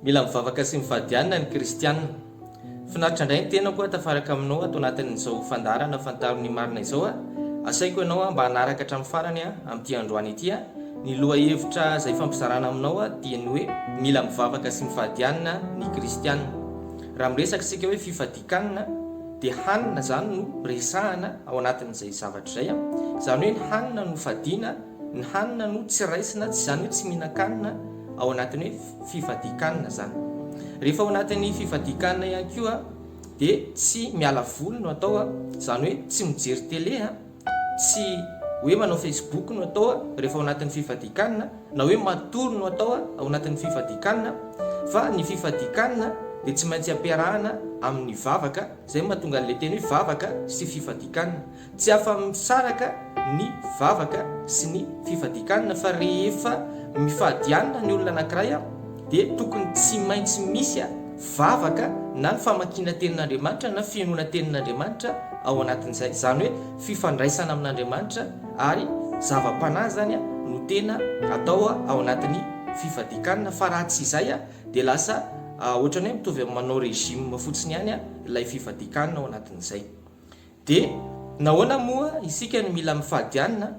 Mila mivavaka sy mifadianina ny kristiana. Finaritra indray ny tenako aho tafaraka aminao ato anatin'izao fandaharana fantaro ny marina izao a! Asaiko ianao mba hanaraka hatramin'ny farany a! amin'ity androany ity a! ny lohahevitra izay ifampizarana aminao a! dia ny hoe mila mivavaka sy mifadianina ny kristiana. Raha miresaka isika hoe fifadikanina dia hanina izany no resahana ao anatin'izay zavatra izay a! izany hoe ny hanina no fadiana, Ny hanina no tsy raisina, tsy izany hoe tsy mihinan-kanina ao anatin'ny hoe fifadian-kanina izany. Rehefa ao anatin'ny fifadian-kanina ihany koa dia tsy miala voly no atao, izany hoe tsy mijery tele, tsy hoe manao facebook no atao rehefa ao anatin'ny fifadian-kanina, na hoe matory no atao ao anatin'ny fifadian-kanina, fa ny fifadian-kanina dia tsy maintsy ampiarahana amin'ny vavaka, izay no mahatonga an'ilay teny hoe vavaka sy fifadian-kanina. Tsy afa-misaraka ny vavaka sy ny fifadian-kanina fa rehefa mifady hanina ny olona anankiray dia tokony tsy maintsy misy vavaka na ny famakiana tenin'Andriamanitra na fihainoana tenin'Andriamanitra ao anatin'izay. Izany hoe fifandraisana amin'Andriamanitra ary zava-panahy izany no tena atao ao anatin'ny fifadian-kanina fa raha tsy izay dia lasa ohatran'ny hoe mitovy amin'ny manao régime fotsiny ihany ilay fifadian-kanina ao anatin'izay. Dia nahoana moa isika no mila mifadianina?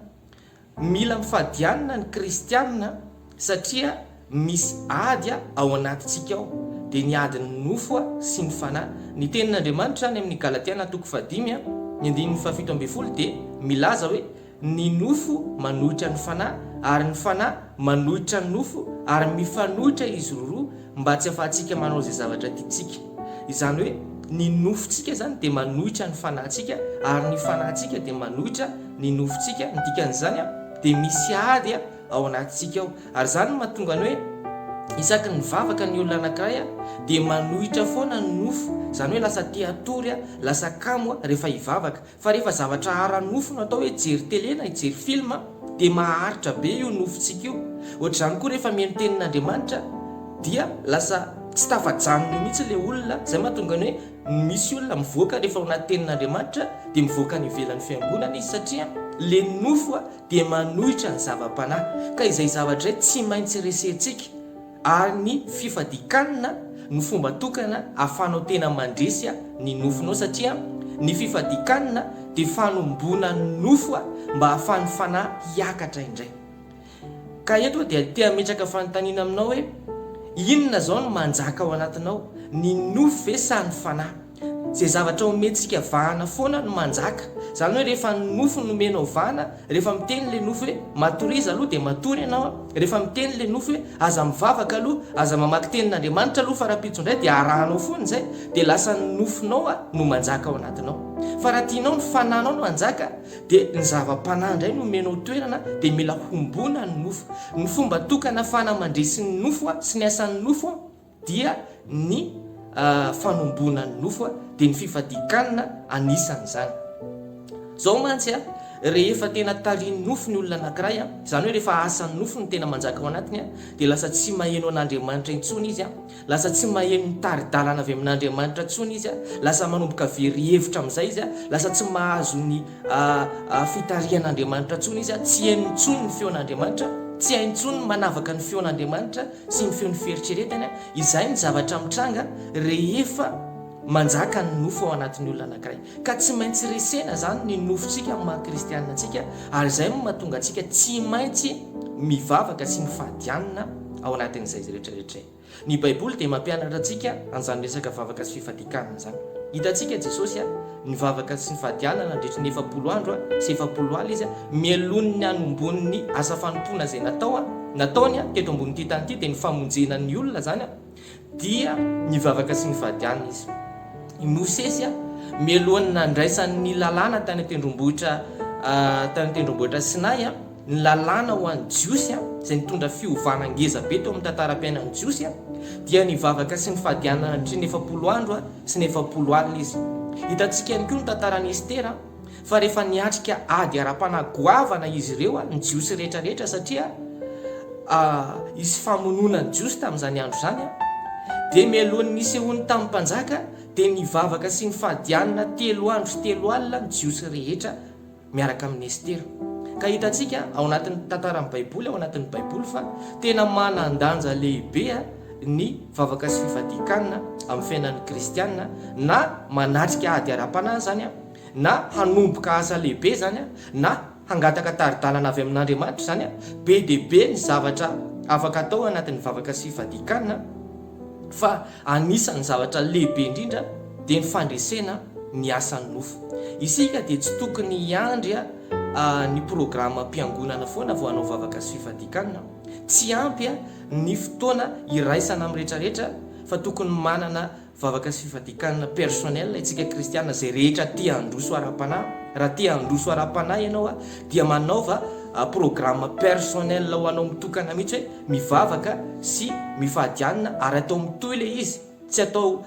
Mila mifadianina ny kristianina satria misy ady ao anatintsika ao, dia ny adin'ny nofo sy ny fanahy. Ny tenin'Andriamanitra any amin'ny Galatiana toko fahadimy, ny andininy fahafito ambin'ny folo dia milaza hoe. Ny nofo manohitra ny fanahy, ary ny fanahy manohitra ny nofo, ary mifanohitra izy roroa mba tsy ahafahantsika manao izay zavatra tiantsika. Izany hoe, ny nofontsika izany dia manohitra ny fanahintsika, ary ny fanahintsika dia manohitra ny nofontsika, ny dikan'izany dia misy ady ao anatintsika ao. Ary izany no mahatonga ny hoe, isaky ny mivavaka ny olona anankiray dia manohitra foana ny nofo, izany hoe lasa te-hatory, lasa kamo rehefa hivavaka. Fa rehefa zavatra ara-nofo no atao hoe hijery tele na hijery film dia maharitra be io nofontsika io. Ohatr'izany koa rehefa mihaino tenin'Andriamanitra dia lasa tsy tafajanona eo mihitsy ilay olona, izay mahatonga ny hoe misy olona mivoaka rehefa ao anaty tenin'Andriamanitra dia mivoaka any ivelan'ny fiangonana izy satria ilay nofo dia manohitra ny zava-panahy. Ka izay zavatra izay tsy maintsy resentsika. ary ny fifadikanna no fomba tokana afahanao tena mandresy ny nofonao satria ny fifadikanna dia fanomboana ny nofo mba ahafahan'ny fanahy hiakatra indray. Ka eto aho dia te hametraka fanontaniana aminao hoe, inona izao no manjaka ao anatinao, ny nofo ve sa ny fanahy? Izay zavatra omentsika vahana foana no manjaka. Izany hoe rehefa ny nofo no omenao vahana, rehefa miteny ilay nofo hoe matoriza aloha dia matory ianao an, rehefa miteny ilay nofo hoe aza mivavaka aloha, aza mamaky tenin'Andriamanitra aloha fa rahampitso indray dia arahanao foana izay, dia lasa ny nofonao an no manjaka ao anatinao. Fa raha tianao ny fanahinao no hanjaka dia ny zava-panahy indray no omenao toerana dia mila hombona ny nofo. Ny fomba tokana ahafahana mandresy ny nofo sy ny asan'ny nofo an. dia ny fanomboana ny nofo dia ny fifadian-kanina anisan'izany. Izao mantsy rehefa tena tarihin'ny nofo ny olona anankiray, izany hoe rehefa asan'ny nofo no tena manjaka ao anatiny dia lasa tsy maheno an'Andriamanitra intsony izy, lasa tsy maheno ny tari-dalana avy amin'Andriamanitra intsony izy, lasa manomboka very hevitra amin'izay izy, lasa tsy mahazo ny fitarihan'Andriamanitra intsony izy, tsy heno intsony ny feon'Andriamanitra, tsy hay intsony ny manavaka ny feon'Andriamanitra. sy ny feon'ny fieritreretany, izay ny zavatra mitranga rehefa manjaka ny nofo ao anatin'ny olona anankiray. Ka tsy maintsy resena izany ny nofontsika amin'ny maha kristiana antsika, ary izay no mahatonga antsika tsy maintsy mivavaka sy mifadianina ao anatin'izay rehetra rehetra izay. Ny Baiboly dia mampianatra antsika an'izany resaka vavaka sy fifadian-kanina izany. Hitantsika Jesosy a. Nivavaka sy nifadiana nandritry ny efapolo andro sy efapolo alina izy mialohan'ny hanombohany ny asa fanompoana izay natao nataony teto ambonin'ity tany ity dia ny famonjena ny olona izany dia nivavaka sy nifadiana izy. I Mosesy mialohan'ny nandraisany ny lalàna tany an-tendrombohitra tany an-tendrombohitra Sinay Ny lalàna ho an'ny Jiosy, izay nitondra fiovana ngeza be teo amin'ny tantaram-piainan'ny Jiosy, dia nivavaka sy nifadianana nandritra ny efapolo andro sy ny efapolo alina izy. Hitantsika ihany koa ny tantaran'i Estera, fa rehefa niatrika ady ara-panahy goavana izy ireo, ny Jiosy rehetra rehetra, satria hisy famonoana ny Jiosy tamin'izany andro izany, dia mialohan'ny nisehoany tamin'ny mpanjaka, dia nivavaka sy nifadianana telo andro sy telo alina ny Jiosy rehetra. miaraka amin'i Estera. Ka hitantsika ao anatin'ny tantaran'ny Baiboly, ao anatin'ny Baiboly fa tena manan-danja lehibe ny vavaka sy fifadian-kanina amin'ny fiainan'ny kristiana, na manatrika ady ara-panahy izany, na hanomboka asa lehibe izany, na hangataka tari-dalana avy amin'Andriamanitra izany, be dia be ny zavatra afaka atao ao anatin'ny vavaka sy fifadian-kanina. fa anisan'ny zavatra lehibe indrindra dia ny fandresena ny asan'ny nofo. Isika dia tsy tokony hiandry ny programam-piangonana foana vao hanao vavaka sy fifadiakana. Tsy ampy ny fotoana iraisana amin'ny rehetrarehetra fa tokony manana vavaka sy fifadiakana personnel isika kristiana izay rehetra te handroso ara-panahy. Raha te handroso ara-panahy ianao dia manaova programa personnel ho anao mitokana mihitsy hoe, mivavaka sy mifady anina ary atao mitohy ilay izy tsy atao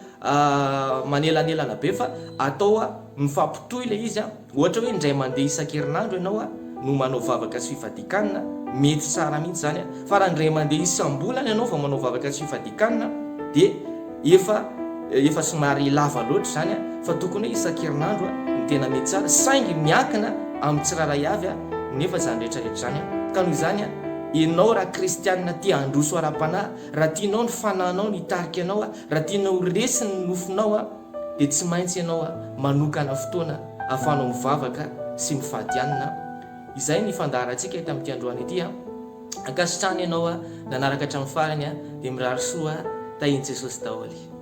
manelanelana be fa atao mifampitohy ilay izy ohatra hoe indray mandeha isan-kerinandro ianao no manao vavaka sy fifadian-kanina mety tsara mihitsy izany fa raha indray mandeha isam-bolana ianao vao manao vavaka sy fifadian-kanina dia Efa efa somary lava loatra izany fa tokony hoe isan-kerinandro no tena mety tsara saingy miankina amin'ny tsirairay avy nefa izany rehetrarehetra izany ka noho izany ianao raha kristianina te handroso ara-panahy raha tianao ny fanahinao no hitarika anao raha tianao ho resy ny nofinao dia tsy maintsy ianao manokana fotoana ahafahanao mivavaka sy mifadianina izay ny fandaharantsika eto amin'ity androany ity Ankasitrano ianao a nanaraka hatramin'ny farany a dia mirary soa a tahin'i Jesosy daholo.